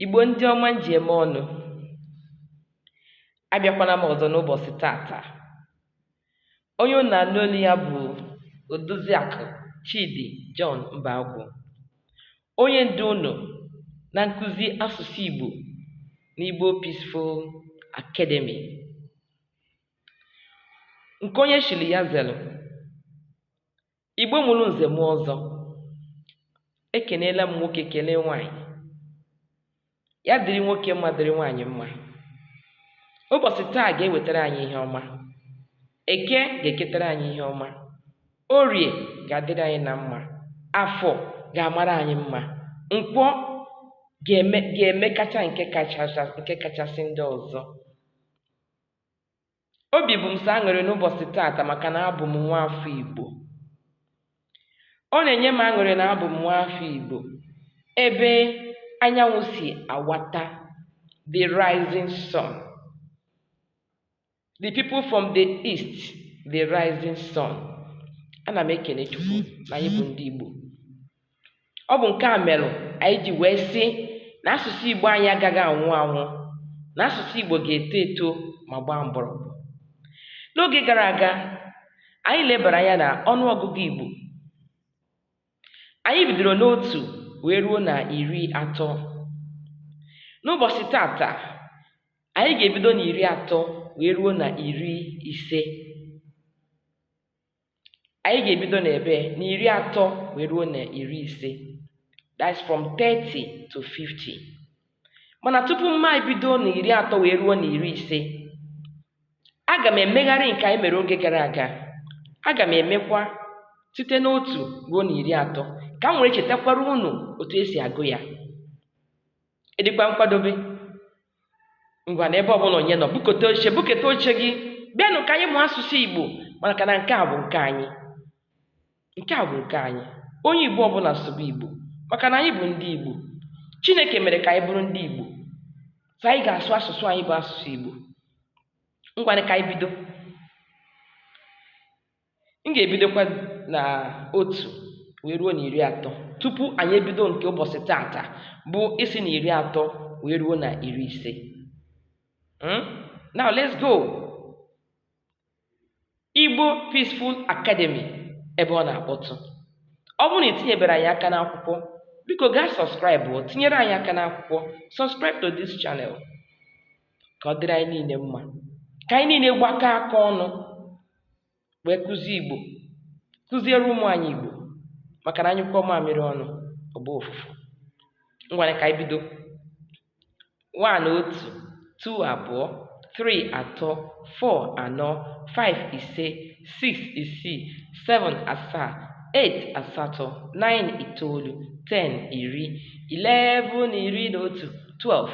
Igbo ndị ọma m ji eme ọnụ, abịakwana m ọzọ n'ụbọchị tata. Onye unu na-anụ olu ya bụ Odoziakụ Chidi John Mbagwụ, onye ndu unu na nkụzi asụsụ Igbo n'Igbo Peaceful Academy. Nke onye chiri ya zelu. Igbo mụrụ nze mụọ ọzọ ekeneela m nwoke kelee nwaanyị ya dịrị nwoke mma dịrị nwaanyị mma ụbọchị taa ga-ewetara anyị ihe ọma eke ga-eketara anyị ihe ọma orie ga-adịrị anyị na mma afọ ga-amara anyị mma nkwọ ga-emekacha nke kachasị ndị ọzọ Obi bụ m sọ aṅụrị n'ụbọchị tata maka na abụ m nwa afọ Igbo. Ọ na-enye m aṅụrị na abụ m nwa afọ Igbo ebe anyanwụ si awata the rising sun. The people from the east the rising sun. Ana m ekene Chukwu na anyị bụ ndị Igbo. ọ bụ nke a mere anyị ji wee sị na asụsụ Igbo anyị agaghị anwụ anwụ na asụsụ Igbo ga-eto eto ma gbaa mgbọrọgwụ n'oge gara aga anyị lebara anya na ọnụ ọgụgụ Igbo anyị bidoro n'otu wee ruo na iri atọ n'ụbọchị tata anyị ga-ebido na iri atọ wee ruo na iri ise anyị ga-ebido na ebe na iri atọ wee ruo na iri ise that's from 30 to 50 mana tupu m ebido na iri atọ wee ruo na iri ise aga m emegharị nke anyị mere oge gara aga aga m emekwa site n'otu ruo na iri atọ ka m were chetakwara unu otu e si agụ ya ị dịkwa nkwadobe ngwanị ebe ọbụla onye nọ buketa oche buketa oche gị bịanụ ka anyị mụọ asụsụ igbo maka na nke a bụ nke anyị nke a bụ nke anyị onye igbo ọbụla sụba igbo maka na anyị bụ ndị igbo chineke mere ka anyị bụrụ ndị igbo so anyị ga-asụ asụsụ anyị bụ asụsụ igbo ngwanị ka anyị bido m ga-ebidokwa na otu wee ruo na iri atọ tupu anyị ebido nke ụbọchị tata bụ isi na iri atọ wee ruo na iri ise hmm? now let's go Igbo Peaceful Academy ebe ọ na-akpọtụ ọ bụrụ na i tinyebere anyị aka n'akwụkwọ biko gaa subscribe tinyere anyị aka n'akwụkwọ subscribe to this channel ka ọ dịrị anyị niile mma ka anyị niile gbakọọ aka ọnụ wee kụzie Igbo kụziere ụmụ anyị Igbo maka na a nyụkọọ mamịrị ọnụ ọ gbaa ụfụfụ ngwanụ ka anyị bido one otu two abụọ three atọ four anọ five ise six isii seven asaa eight asatọ nine itoolu ten iri eleven iri na otu twelve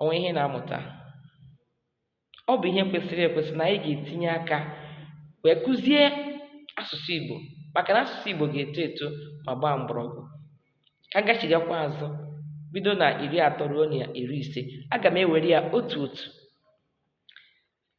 o nwee ihe na-amụta ọ bụ ihe kwesịrị ekwesị na anyị ga-etinye aka wee kụzie asụsụ Igbo maka na asụsụ Igbo ga-eto eto ma gbaa mgbọrọgwụ ka m gachigakwa azụ bido na iri atọ ruo na iri ise aga m ewere ya otu otu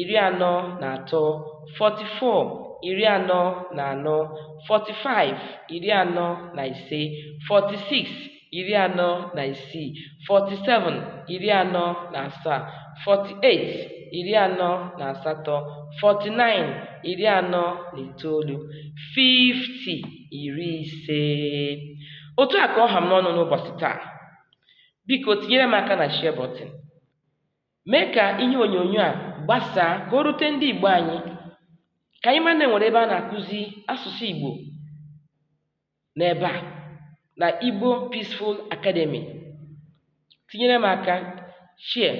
iri anọ na atọ 44 iri anọ na anọ 45 iri anọ na ise 46 iri anọ na isii 47 iri anọ na asaa 48 iri anọ na asatọ 49 iri anọ na itoolu 50 iri ise otu a ka ọ ha m n'ọnụ n'ụbọchị taa biko tinyere m aka na share button Mee ka ihe onyonyo a gbasaa ka o rute ndị Igbo anyị ka anyị mara na e nwere ebe a na-akụzi asụsụ Igbo n'ebe a na Igbo Peaceful Academy. Tinyere m aka, share,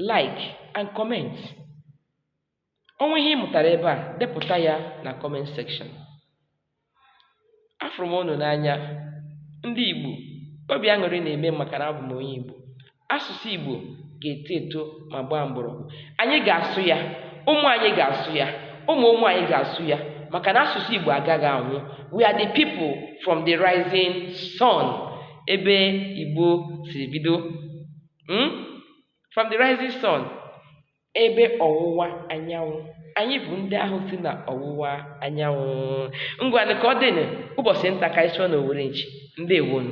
like and comment. O nwee ihe ị mụtara ebe a, depụta ya na comment section. Afụrụ m unu n'anya. Ndị Igbo, obi aṅụrị na-eme m maka na abụ m onye Igbo. Asụsụ Igbo ga-eto eto ma gbaa mgbọrọgwụ. Anyị ga-asụ ya, ụmụ anyị ga-asụ ya, ụmụ ụmụ anyị ga-asụ ya maka na asụsụ Igbo agaghị anwụ. We are the people from the rising sun ebe Igbo siri bido. Hmm? From the rising sun. ebe ọwụwa anyanwụ anyị bụ ndị ahụ si na ọwụwa anyanwụ ngwanụ ka ọ dịnụ ụbọchị nta ka anyị chụọ n'owere nchi ndewonụ